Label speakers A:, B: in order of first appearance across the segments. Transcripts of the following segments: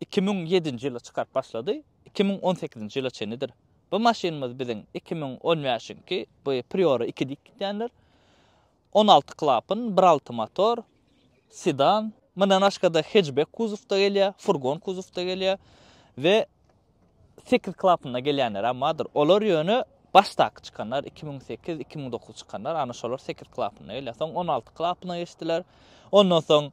A: iki müň ýedinji ýylda çykaryp başlady, iki müň on sekizinji ýyla çenlidir. Bu maşynymyz biziň iki müň on bäşiňki bu Priora iki diýip gidýänler. On alty klapyn, bir alty motor, sedan. Mundan başga-da hetçbek kuzowda gelýär, furgon kuzowda gelýär we sekiz klapynda gelýänler hem bardyr. Olar ýöne başdaky çykanlar, iki müň sekiz, iki müň dokuz çykanlar, ana şolar sekiz klapynda gelýär. Soň on alty klapyna geçdiler. Ondan soň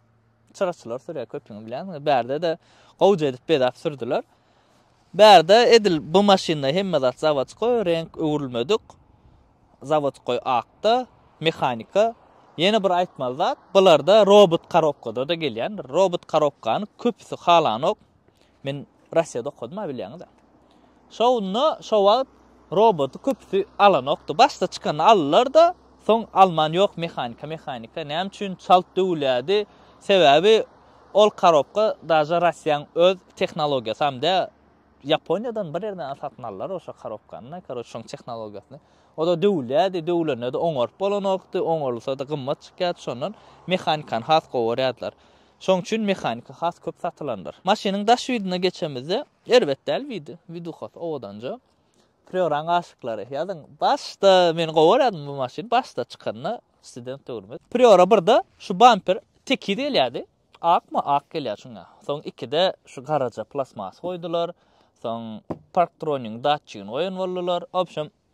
A: Çyraçylar sürýär köpüňi bilýäňmi? Bärde-de gowja edip bezäp sürdüler. Bärde edil bu maşynda hemme zat zawodskoý, reňk öwrülmedik. Zawodskoý akda, mehanika. Ýene bir aýtmaly zat, bularda robot korobkada-da gelýändir. Robot korobkany köpüsi halanok. Men Russiýada okadym-a bilýäňiz-ä. Şonda şo wagt roboty köpüsi alanokdy. Başda çykanda aldylar-da, soň alman ýok mehanika, mehanika. Näme üçin çalt döwülýärdi? Sebäbi ol korobka daže Russiýanyň öz tehnologiýasam däl. Ýaponiýadan bir ýerden satyn aldylar oşa korobkany-da, karoç şoň tehnologiýasyny. O-da döwülýärdi, döwülende-de oňaryp bolanokdy, oňarylsa-da gymmat çykýardy, şondan mehanikany has gowy görýärdiler. Şoň üçin mehanika has köp satylandyr. Maşynyň daş widine geçemizde, erbet däl widi, widuhasy owadanja. Prýoraň aşyklary, ýazyň, başda men gowy görýärdim bu maşyny, başda çykanda, student döwrümiz. Prýora birde şu bamper tekiz gelýärdi, akmy, ak gelýär şuňa. Soň ikide şu garaja plastmas goýdular, soň parktronigiň datçigini goýan boldular. Obşem,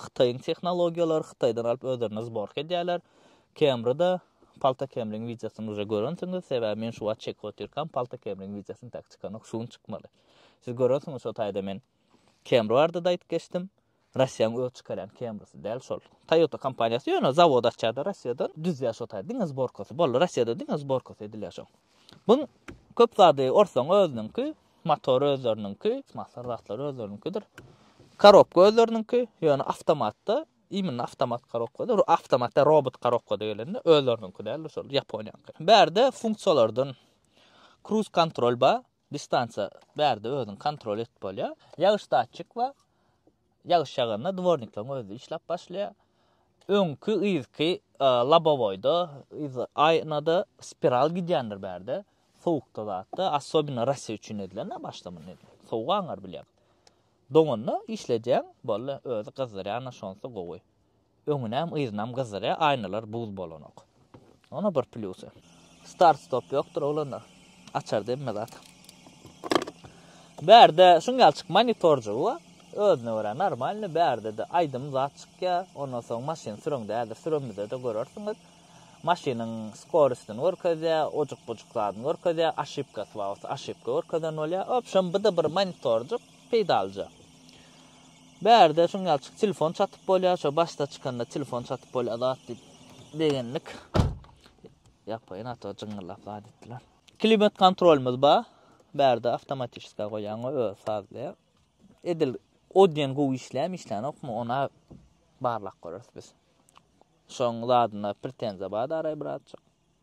A: Hytaýyň tehnologiýalary Hytaýdan alyp özlerinde zborka edýärler. Camry-da Palta Camryň wideosyny uje görensiňiz, sebäbi men şu wagt çekip otyrkam Palta Camryň wideosyny tak çykanok, şu gün çykmaly. Siz görensiňiz şo taýda men Camry barada-da aýdyp geçdim. Russiýaň öz çykarýan Camrysy däl şol. Toyota kompaniýasy ýöne zawod açýar-da Russiýada, düzýär şo taýda diňe zborkasy. Boldy, Russiýada diňe zborkasy edilýär şoň. Buň köp zady orsaň özüniňki, motor özleriniňki, mahsar zatlar özleriniňkidir. Karobka özleriniňki, ýöne awtomatda, imенно awtomat karobkada, awtomat däl robot karobkada gelende özleriniňki däl şol ýaponiýanyňky. Bärde funksiýalardan kruz kontrol bar, Distansiýa bärde özüňi kontrol edip bolýar. Ýagyş datçik bar. Ýagyş ýaganda dwornikleriň özi işläp başlaýar. Öňki, yzky lobowoýda, yz aýnada spiral gidýändir bärde. Sowukda zatda, assobino Rasiýa üçin edilen-ä başda muny sowuk aňar bilýär. Doňanda işledýäň, boldy, özi gyzdyrýan-a şonsy gowy. Öňünem yzynam gyzdyrýar aýnalar buz bolanok. Onam bir plýusy. Start stop ýokdur oglanda. Açar demme zat. Bärde şunýalçyk monitorjygy bar. Özüne görä normalny bärdede aýdym zat çykýar. Ondan soň maşyn süreň däldir süremizede görersiňiz. Maşynyň skorostyny görkezýär, ojuk bujuk zadyny görkezýär, aşipkasy bar bolsa aşipka görkezen bolýar. Obşem bide bir monitorjyk peýdalyja. Bärde şuň ýaly çyk telefon çatyp bolýar şo başda çykanda telefon çatyp bolýar zat diýip begendik. Ýapaýyn ata jyňňyllap zat etdiler. Klimat kontrolymyz bar. Bärde awtomatiska goýýan we öz sazlaýar. Edil o diýen gowy işlämi işlänokmy ona barlak görüris biz. Şoň zadyna pretenziýa bar araý birazjyk.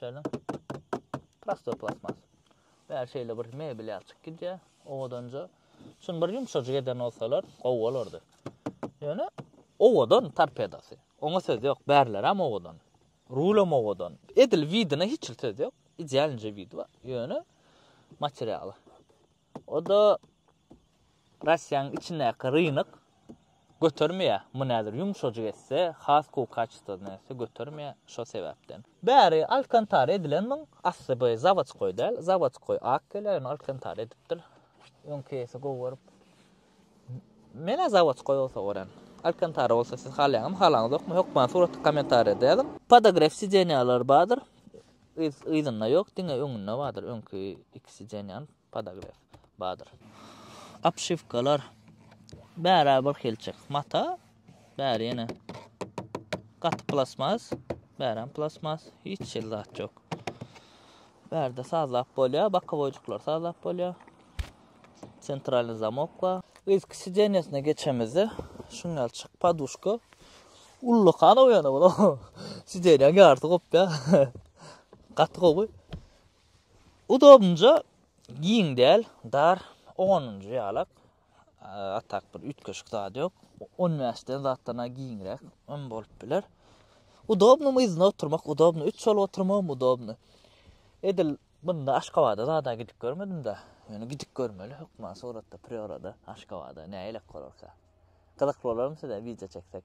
A: Şeýle. Prostoý plastmas. Bäri şeýle bir mebel ýaly çykyp gidýär. Owadanja. Şuny bir ýumşajyk eden bolsalar, gowy bolardy. Ýöne owadan torpedasy. Oňa söz ýok. Bärilerem owadan. Rulem owadan. Edil widine hiç söz ýok. Idealnje wid bar. Ýöne materialy. O-da Russiýanyň içindäki rynyk götermeýär. Muny häzir ýumşajyk etse, has gowy kaçestwada etse götermeýär. Şo sebäpden. Bäri Alkantara edilen muň asly bu zawodskoý däl. Zawodskoý ak gelýär, ýöne Alkantara edipdir. Öňki ýesy gowy görüp. Menä zawodskoý bolsa görän. Alkantara bolsa siz halaýaňyzmy halaňyzokmy hökman suraty komentariýada ýazyň. Podogref sidenýalar bardyr yz yzynda ýok diňe öňünde bardyr öňki iki sidenýany podogref bardyr. Obşiwkalar bärä bir hilçik mata. Bäri ýene gaty plasmas, bäräm plasmas, hiç şeýle zat ýok. Bärde sazlap bolýar, bakowoýjyklar sazlap bolýar. Sentralny zamok bar. Risk sidenýasyna geçemizde, şuňal çyk paduşka. Ully kana bu ýana bula. Sidenýaň ýarysy gopýar. Gaty gowy. Udobnja giň däl, dar, oňanynja ýalak. A tak bir üýtgeşik zat ýok. On bäş den zatdan-a giňräk hem bolup biler. Udobnymy yzyna oturmak, udobny üç bolup oturmagym udobny. Edil munda Aşgabada zada gidip görmedim-de. Ýöne gidip görmeli hökman suratda, priorada Aşgabada nälelik bolarka. Gyzykly bolarmy size wideo çeksek?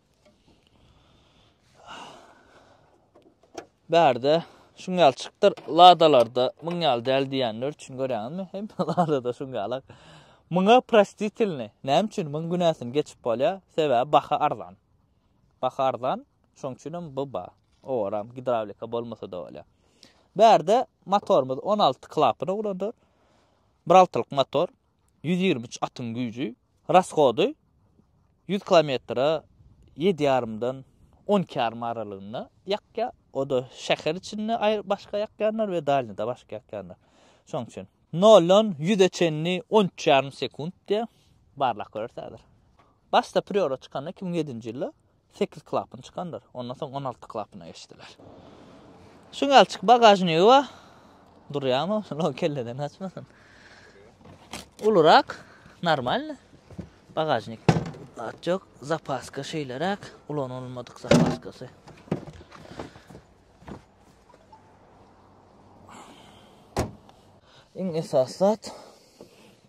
A: Bärde şuň ýaly çykdyr ladalarda muň ýaly däl diýenler üçin görýäňizmi? Hem ladada şuň ýaly. Muňa prostitilni. Näme üçin muň günäsini geçip bolýar? Sebäbi baha arzan. Baha arzan. Şoň üçin hem bu ba. Oram gidrawlika bolmasa da bolýar. Bärde motorymyz 16 klapana ulandyr. Bir altylyk motor. ýüz ýigrimi üç atyň güýji, Rasgody ýüz kilometre ýedi ýarymdan on iki ýarym aralygynda ýakýar. O-da şäher içinde aýry başga ýakýanlar we dalnýada başga ýakýanlar. Şoň üçin noldan ýüze çenli on üç ýarym sekunt diýýär. Barlap görersiň häzir. Başda priora çykanda iki müň ýedinji ýylda Sekiz klapyn çykandyr. Ondan soň on alty klapyna geçdiler. Şu galçyk bagažnigi bar. Durýamy? Şuny kelleden açmasyn. Ulurak, normalny. Bagažnik. Zat ýok. Zapaska şeýleräk. Ulanylmadyk zapaskasy. Iň esas zat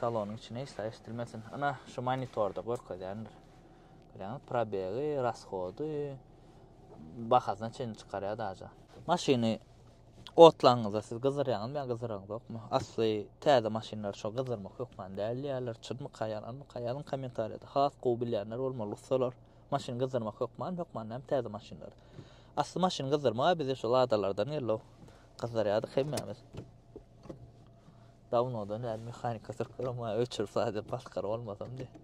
A: Salonyň içi näçe eşdilmesin. Ana, şu monitorda görkezýändir. Görýäňiz, probegi, rashody, bahasyna çenli çykarýar daja. Maşyny otlaňyzda siz gyzdyrýaňyzmy ýa gyzdyraňyzokmy? Asly täze maşynlary şo gyzdyrmak hökman däl diýýärler. Çynmyka, ýalanmyka? Ýazyň kommentariýada. Has gowy bilýänler bolmaly ussalar. Maşyny gyzdyrmak hökman, hökman näme täze maşynlar. Asly maşyny gyzdyrmak-a bize şu ladalardan geldi-ow. Gyzdyrýardyk hemmämiz. Dawnodan bäri mehanika syrkyrap maýa öçür sade paskar bolmasam diýip.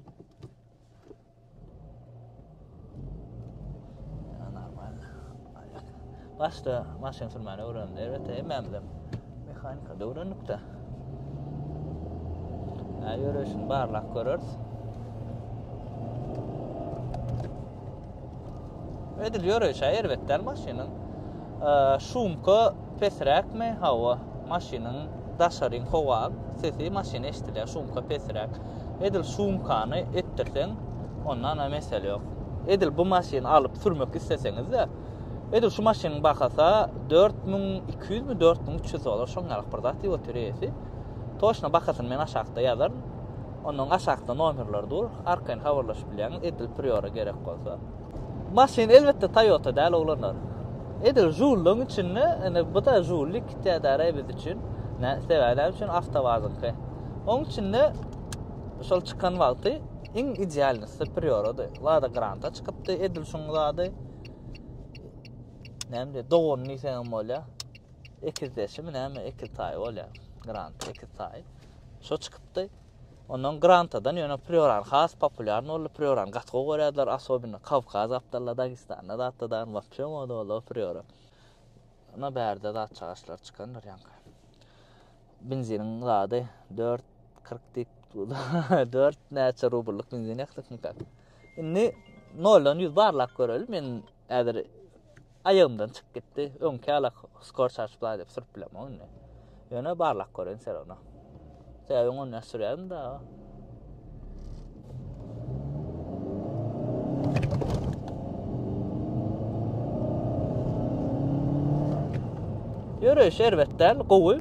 A: Başda maşyn sürmäni öwrendim. Elbetde hemmämizem mehanika öwrendik-de. Ä ýöreşini barlap görürs. Edil ýöreýşä erbet däl maşynyň. Şumka pesräkmi? Hawa, maşynyň daşaryň howa sesi maşyny eşidilýär, şumka pesräk. Edil şumkany etdirseň, onda ana mesele ýok. Edil bu maşyny alyp sürmek isleseňiz-de, edil şu maşynyň bahasa 4200 mi, 4300 dollar şoň ýalyk bir zat diýip otyr eýesi. Toçna bahasyny men aşakda ýazaryn. Ondan aşakda nomerler dur, arkaýyn habarlaşyp bilýäňiz, edil Priora gerek bolsa. Maşyn elbetde Toyota däl oglanlar. Edil Žulluň içinde, indi bu-da Žullik täze-re biz üçin. Nä, sebäbi näme üçin Awtowazyňky. Oň içinde şol çykan wagty iň idealnysy Priorady. Lada Granta çykypdy, edil şuň zady. Näme diýýär, dogany diýseňem bolýar. Ekizdeşimi näme, ekiz taýy bolýar. Grant, ekiz taýy. Şo çykypdy. Ondan Grantadan ýöne Prioran has populýarny boldy. Prioran gaty gowy görýärdiler, asobinno Kawkaz gapdalynda, Dagestanda zatda dagyň wapşe moda boldy o Prioran. Ana bärde zat çagaşlar çykandyr ýaňky. Benziniň zady 4.40 diýip, 4 näçe rublyk benzin ýakdyk mykak. Indi noldan ýüz barlap göreli, men Häzir aýagymdan çykyp gitdi. Öňki ýala skor çarçyp laý diýip sürüp bilemok indi. Ýöne barlak göreýin sen ony. Sebäbi ony näçe sürýärin da. Ýöreýiş erbet däl, gowy.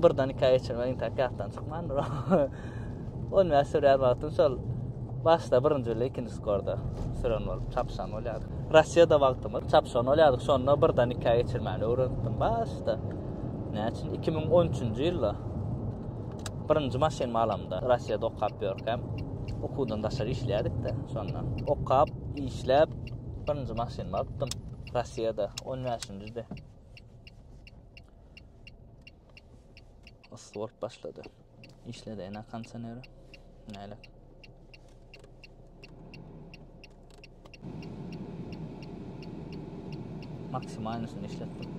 A: Birden iki aý geçirmek intäk ýatdan çykmandyr. 10 minut sürýär wagtym şol başda birinji bile ikinji skorda süren bolup çapyşan bolýardy. Rossiýada wagtymyz çapyşan bolýardyk, şonda birden ikä geçirmäni öwrendim başda. Näçe 2013-nji ýylda birinji maşyn malamda Rossiýada okap ýörkäm, okuwdan daşar işleýärdik-de şonda. Okap, işläp, birinji maşyn alypdym Rossiýada 15-njide. Oswald başlady. İşledi ene kondisioneri. Näle? Maksimalnisini işletdim.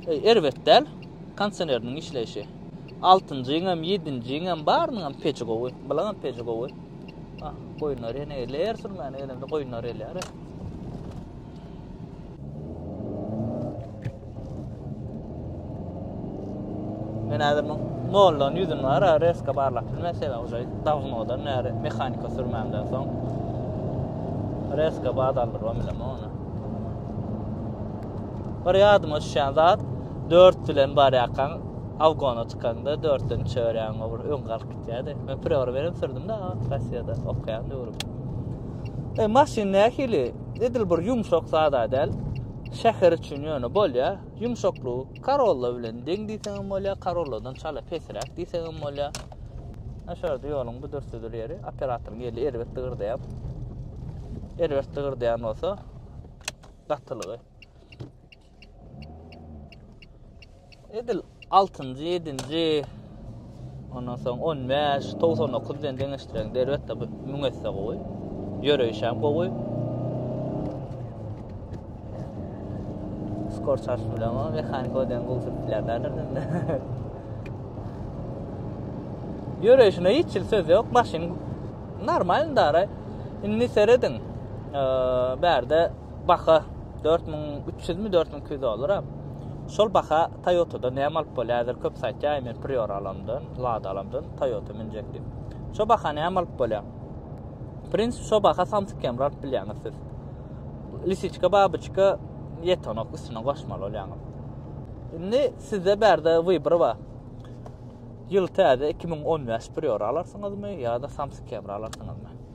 A: E, erbet däl. Kondisioneriniň işleýşi. 6-njyň hem, 7-njiň hem barynyň hem peçi gowy. Bulaň hem peçi gowy. Ah, goýunlar ýene elär sürmäne gelende goýunlar elär. Men häzir bu noldan ýüzün bar, ha, reska barlap bilmän, sebäbi uje dawnodan näre mehanika sürmämden soň reska bad aldyrmam bilen ony. Bir ýadyma düşýän zat, 4 bilen barýarkaň Awgona çykanda 4-den çörýän bir öň galyp gitýärdi. Men prewar berip sürdüm-de, Rossiýada okaýan döwrüm. E, maşyn nähili? Edil bir ýumşak zada däl. Şäher üçin ýöne bolýar. Ýumşaklygy Corolla bilen deň diýseň hem bolýar, Corolladan çala pesräk diýseň hem bolýar. Aşarda ýoluň bu dürtüdür ýeri, operatoryň eli erbet dygyrdaýar. Erbet dygyrdaýan bolsa, gatylygy. Edil 6-njy, 7-nji, ondan soň 15, 99 bilen deňeşdireň, derbetde bu müň esse gowy. Ýöreýiş hem gowy. Skor çarş bilen o mehanik odan gowy sürtdiler derler. Ýöreýişine hiç ýyl söz ýok, maşyn normal dara. Indi serediň. Eee, bärde Baha dört müň üç ýüzmi, dört müň iki ýüz dollara. Şol baha Toyota-da näme alyp bolýar? Häzir köpüsi aýtýar, men Prior alamdan, Lada alamdan, Toyota münjek diýip. Şo baha näme alyp bolýar? W prinsipi, şo baha Samsung Camry alyp bilýäňiz siz. Lisiçka, babyçka ýetenok, üstüne goşmaly bolýaňyz. Indi sizde bärde wybor bar. Ýyl täze, iki müň on bäş Prior alarsyňyzmy ýa-da Samsung Camry alarsyňyzmy?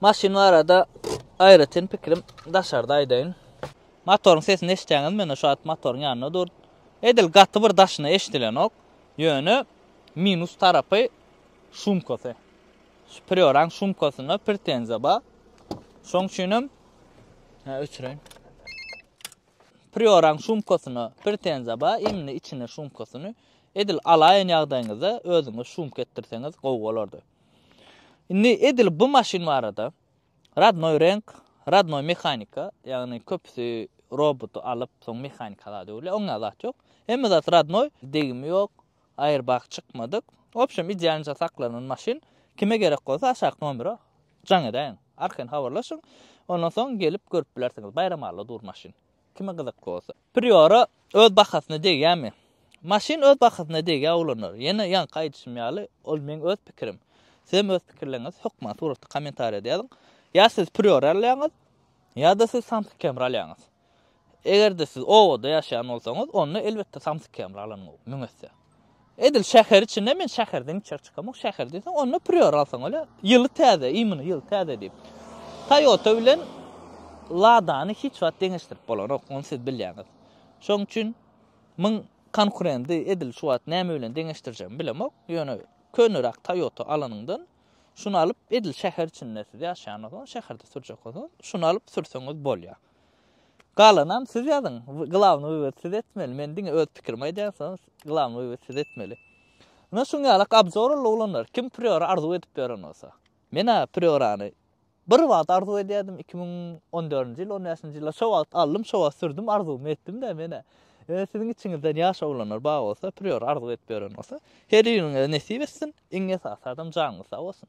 A: Maşyn barada aýratyn pikrim daşarda aýdaýyn. Motoryň sesini eşitýäňiz, men şu at motoryň ýanynda dur. Edil gaty bir daşyna eşidilenok. Ýöne minus tarapy şumkasy. Superioranyň sumkasynda pretenziýa bar. Şoň üçin hem Ha, öçüreýin. Prioranyň sumkasyna pretenziýa bar, indi içine sumkasyny edil alaýan ýagdaýyňyzda özüňiz sumka etdirseňiz gowy bolardy. Indi edil bu maşyn barada Radnoý renk, Radnoý mehanika, ýagny köpüsi roboty alyp, soň mehanika zady öwrülýär, oňa zat ýok. Hemme zat Radnoý, degimi ýok, Airbag çykmadyk. Wobşem idealnja saklanan maşyn. Kime gerek bolsa aşaky nomere jaň edäýiň. Arkaýyn habarlaşyň. Ondan soň gelip görüp bilersiňiz. Baýramalla dur maşyn. Kime gyzykly bolsa. Priora öz bahasyna degýämi? Maşyn öz bahasyna degýär oglanlar. Ýene ýaňky aýdyşym ýaly, ol meň öz pikirim. Sizem öz pikirleriňizi hökman suratly kommentariýada ýazyň. Ýa siz Priora alýaňyz, ýa-da siz Samsung Camry alýaňyz. Eger-de siz obada ýaşaýan bolsaňyz, onda elbetde samsyk kemri alanyň gowy, müň esse. Edil şäher içinde men şäherden içeri çykamok, şäher diýseň, onda Prior alsaň öle, ýyly täze, iýmini ýyly täze diýip. Toyota bilen Ladany hiç wagt deňeşdirip bolanok, ony siz bilýäňiz. Şonuň üçin muň konkurendi edil şu wagt näme bilen deňeşdirjegimi bilemok, ýöne köneräk Toyota alanyňdan şuny alyp, edil şäher içinde siz ýaşaýan bolsaňyz, şäherde sürjek bolsaňyz, şuny alyp sürseňiz bolýar. Galanam siz ýazyň. Glawny wywod siz etmeli. Men diňe öz pikirimi aýdýan soň glawny wywod siz etmeli. Ina şuň ýalak abzorly oglanlar kim priora arzuw edip ýören bolsa. Menä priorany bir wagt arzuw edýärdim iki müň on dördünji ýyl on bäşinji ýylda şo wagt aldym şo wagt sürdüm arzuwymy etdimdä menä. Ine siziň içiňizden ýaş oglanlar bar bolsa priora arzuw edip ýören bolsa her biriňize nesip etsin iň esasy adam janyňyz sag bolsun.